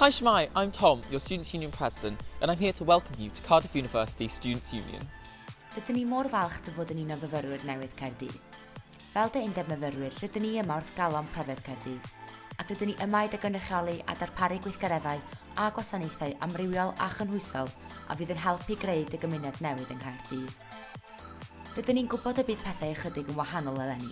Hi Shemai, I'm Tom, your Students' Union President, and I'm here to welcome you to Cardiff University Students' Union. Rydyn ni mor falch dy fod yn un o fyfyrwyr newydd Caerdydd. Fel dy undeb myfyrwyr, rydyn ni yma wrth galon pryfed Caerdydd, ac rydyn ni yma i dy gynrychioli a darparu gweithgareddau a gwasanaethau amrywiol a chynhwysol a fydd yn helpu greu dy gymuned newydd yng Nghaerdydd. Rydyn ni'n gwybod y bydd pethau ychydig yn wahanol eleni,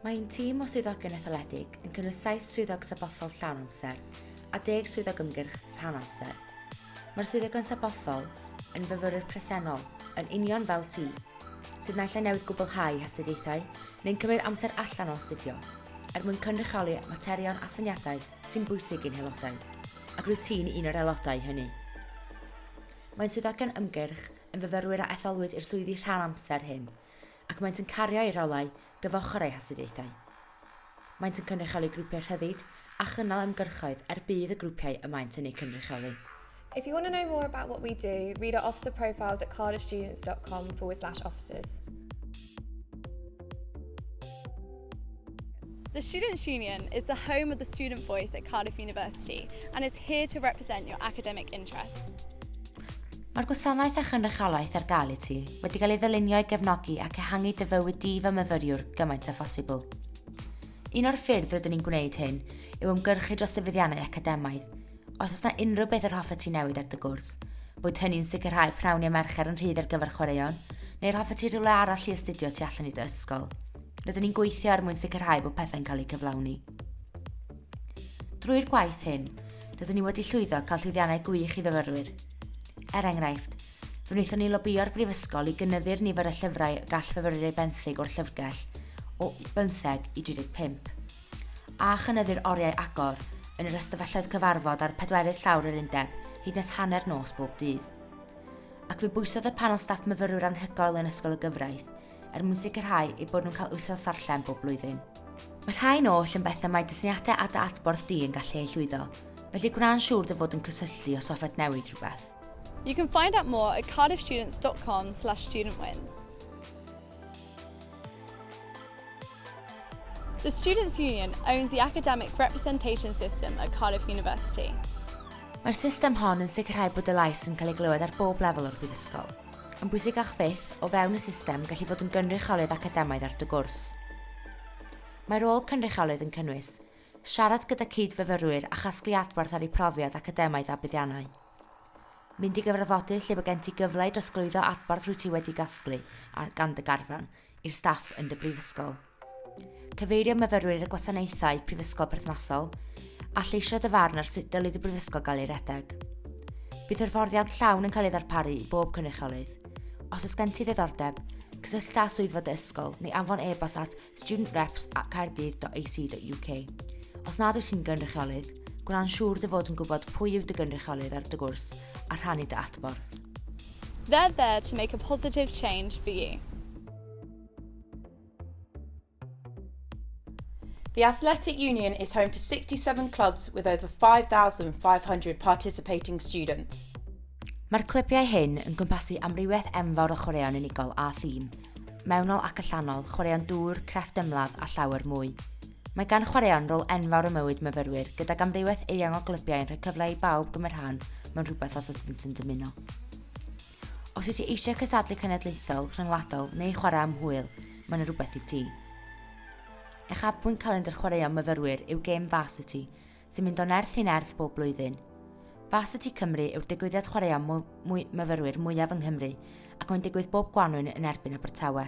Mae ein tîm o swyddogion etholedig yn cynnwys saith swyddog sabothol llawn amser a deg swyddog ymgyrch rhan amser. Mae'r swyddogion sabothol yn fyfyrwyr presennol, yn union fel ti, sydd naill ai newydd gwblhau hastudiaethau neu'n cymryd amser allan o astudio er mwyn cynrychioli materion a syniadau sy'n bwysig i'n haelodau, ac rwyt ti'n un o'r aelodau hynny. Mae'n swyddogion ymgyrch yn fyfyrwyr a etholwyd i'r swyddi rhan amser hyn, ac maent yn cario eu rholau gyfochr eu hastudiaethau. Maent yn cynrychioli grwpiau rhyddid a chynnal ymgyrchoedd er budd y grwpiau y maent yn eu cynrychioli. If you want to know more about what we do, read our officer profiles at cardiffstudents.com forward slash officers. The Students' Union is the home of the student voice at Cardiff University and is here to represent your academic interests. Mae'r gwasanaeth a chynrychiolaeth ar gael i ti wedi cael ei ddylunio i gefnogi ac ehangu dy fywyd di fel myfyriwr gymaint â phosibl. Un o'r ffyrdd rydyn ni'n gwneud hyn yw ymgyrchu dros ddyfyddiannau academaidd, Os oes na unrhyw beth yr hoffet ti newid ar dy gwrs, boed hynny'n sicrhau pnawn neu mercher yn rhydd ar gyfer chwaraeon, neu'r hoffet ti rhywle arall i astudio tu allan i dy ysgol, rydyn ni'n gweithio er mwyn sicrhau bod pethau'n cael eu cyflawni. Drwy'r gwaith hyn, rydyn ni wedi llwyddo cael llwyddiannau gwych i fyfyrwyr. Er enghraifft, fe wnaethon ni lobio'r brifysgol i gynyddu'r nifer y llyfrau y gall fyfyrwyr eu benthyg o'r llyfrgell o 15 i 35. a chynyddu'r oriau agor yn yr ystafelloedd cyfarfod ar pedwerydd llawr yr undeb hyd nes hanner nos bob dydd. Ac fe bwysodd y panel staff myfyrwyr anhygoel yn Ysgol y Gyfraith er mwyn sicrhau eu bod nhw'n cael wythnos ddarllen bob blwyddyn. Mae rhai'n oll yn bethau mae dysyniadau a dy adborth di yn gallu eu llwyddo, felly gwna'n siŵr dy fod yn cysylltu os hoffet newid rhywbeth. You can find out more at cardiffstudents.com slash studentwins. The Students' Union owns the academic representation system at Cardiff University. Mae'r system hon yn sicrhau bod y lais yn cael ei glywed ar bob lefel o'r brifysgol. Yn bwysicach fyth, o fewn y system, gallu fod yn gynrychiolydd academaidd ar dy gwrs. Mae rôl cynrychiolydd yn cynnwys siarad gyda cyd-fyfyrwyr a chasglu adborth ar eu profiad academaidd a buddiannau. Mynd i gyfarfodydd lle bod gen ti gyfle i drosglwyddo adborth rwyt ti wedi gasglu gan dy garfan i'r staff yn dy brifysgol. Cyfeirio myfyrwyr i'r gwasanaethau prifysgol perthnasol a lleisio dy farn ar sut dylid y brifysgol gael ei redeg. Bydd hyfforddiant llawn yn cael ei ddarparu i bob cynrychiolydd. Os oes gen ti ddiddordeb, cysyllta â swyddfa dy ysgol neu anfon e-bost at studentreps@caerdydd.ac.uk. Os nad wyt ti'n gynrychiolydd, gwna'n siŵr dy fod yn gwybod pwy yw dy gynrychiolydd ar dy gwrs a rhannu dy adborth. They're there to make a positive change for you. The Athletic Union is home to 67 clubs with over 5,500 participating students. Mae'r clybiau hyn yn cwmpasu amrywiaeth enfawr o chwaraeon unigol a thîm, mewnol ac allanol, chwaraeon dŵr, crefft ymladd a llawer mwy. Mae gan chwaraeon rôl enfawr ym mywyd myfyrwyr, gydag amrywiaeth eang o glybiau yn rhoi cyfle i bawb gymryd rhan mewn rhywbeth os ydynt yn dymuno. Os wyt ti eisiau cysadlu cenedlaethol, rhyngwladol neu chwarae am hwyl, mae yna rhywbeth i ti. Uchafbwynt calendr chwaraeon myfyrwyr yw gêm Varsity, sy'n mynd o nerth i nerth bob blwyddyn. Varsity Cymru yw'r digwyddiad chwaraeon mwy, mwy myfyrwyr mwyaf yng Nghymru ac mae'n digwydd bob gwanwyn yn erbyn Abertawe.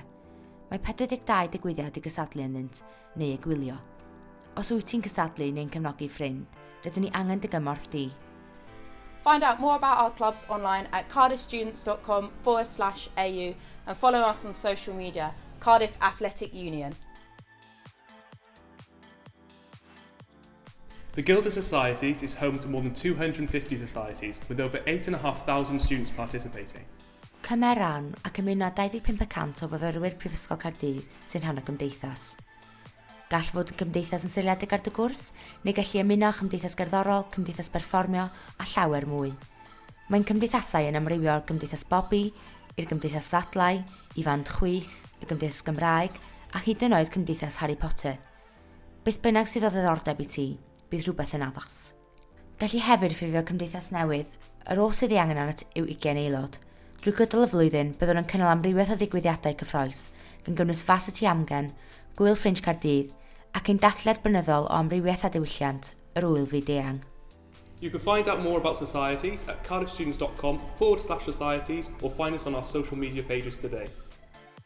Mae 42 digwyddiad i gysadlu ynddynt, neu i gwylio. Os wyt ti'n cysadlu neu'n cefnogi ffrind, rydyn ni angen dy gymorth di. Find out more about our clubs online at cardiffstudents.com forward slash au and follow us on social media, Cardiff Athletic Union. The Guild of Societies is home to more than 250 societies, with over 8,500 students participating. Cymeron ac ymuno 25 y cant o fyfyrwyr Prifysgol Caerdydd sy'n rhan o gymdeithas. Gall fod yn gymdeithas yn seiliedig ar dy gwrs, neu gallu ymuno â chymdeithas gerddorol, cymdeithas berfformio, a llawer mwy. Mae'n cymdeithasau yn amrywio o'r Gymdeithas Bobi, i'r Gymdeithas Ddadlau, i Fand Chwith, y Gymdeithas Gymraeg, a hyd yn oed Cymdeithas Harry Potter. Beth bynnag sydd o ddiddordeb i ti, bydd rhywbeth yn addas. Gallu hefyd ffurfio cymdeithas newydd, yr oll sydd ei angen arnat yw ugain aelod. Drwy gydol y flwyddyn, byddwn yn cynnal amrywiaeth o ddigwyddiadau cyffroes, gan gynnwys Fas y Tŷ Amgen, Gwyl Ffrinj Caerdydd, ac ein dathliad blynyddol o amrywiaeth a diwylliant, yr Ŵyl Fyd-eang. You can find out more about Societies at cardiffstudents.com forward slash societies or find us on our social media pages today.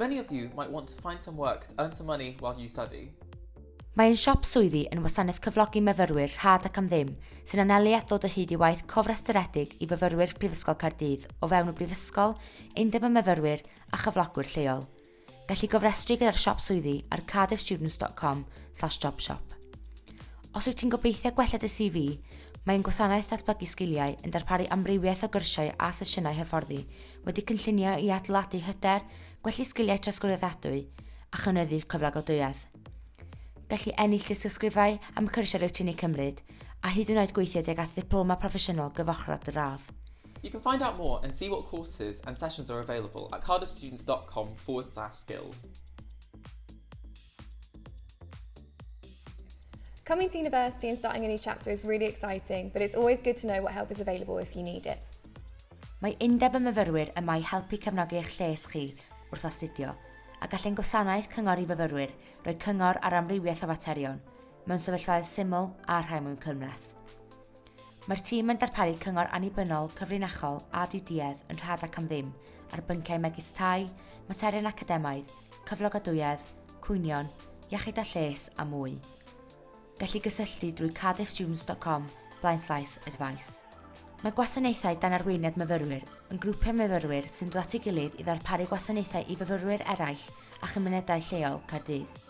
Many of you might want to find some work to earn some money while you study. Mae ein siop swyddi yn wasanaeth cyflogi myfyrwyr rhad ac am ddim sy'n anelu at ddod o hyd i waith cofrestredig i fyfyrwyr Prifysgol Caerdydd o fewn y Brifysgol, Undeb y Myfyrwyr a chyflogwyr lleol. Gallu gofrestru gyda'r siop swyddi ar cardiffstudents.com slash jobshop. Os wyt ti'n gobeithio gwella dy CV, mae ein gwasanaeth datblygu sgiliau yn darparu amrywiaeth o gyrsiau a sesiynau hyfforddi wedi cynllunio i adeiladu hyder, gwellu sgiliau trosglwyddadwy a chynyddu cyflogadwyedd. Gallu ennill dysgysgrifau am y cyrsiau rwyt ti'n eu cymryd, a hyd yn oed gweithio tuag at ddiploma proffesiynol gyfochrog dy radd. You can find out more and see what courses and sessions are available at cardiffstudents.com forward slash skills. Coming to university and starting a new chapter is really exciting, but it's always good to know what help is available if you need it. Mae Undeb y Myfyrwyr yma i helpu cefnogi eich lles chi wrth astudio, a gall ein gwasanaeth cyngor i fyfyrwyr roi cyngor ar amrywiaeth o faterion, mewn sefyllfaoedd syml a rhai mwyn cymleth. Mae'r tîm yn darparu cyngor annibynnol, cyfrinachol a ddiduedd yn rhad ac am ddim ar bynciau megis tai, materion academaidd, cyflogadwyedd, cwynion, iechyd a lles a mwy. Gellir gysylltu drwy cardiffstudents.com blaenslaes advice. Mae gwasanaethau dan arweiniad myfyrwyr yn grwpiau myfyrwyr sy'n dod at ei gilydd i ddarparu gwasanaethau i fyfyrwyr eraill a chymunedau lleol Caerdydd.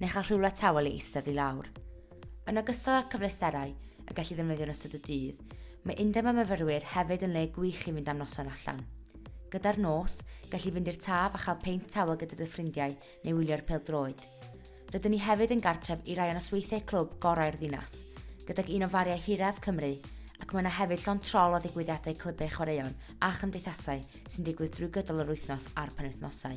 neu chael rhywle tawel i eistedd i lawr. Yn ogystal â'r cyfleusterau y gallu ddefnyddio yn ystod y dydd, mae Undeb y Myfyrwyr hefyd yn le gwych i fynd am noson allan. Gyda'r nos, gallu fynd i'r taf a chael peint tawel gyda dy ffrindiau neu wylio'r peldroed. Rydyn ni hefyd yn gartref i rai o nosweithiau clwb gorau'r ddinas, gydag un o fariau hiraf Cymru, ac mae yna hefyd llon trol o ddigwyddiadau clybau chwaraeon a chymdeithasau sy'n digwydd drwy gydol yr wythnos a'r penwythnosau.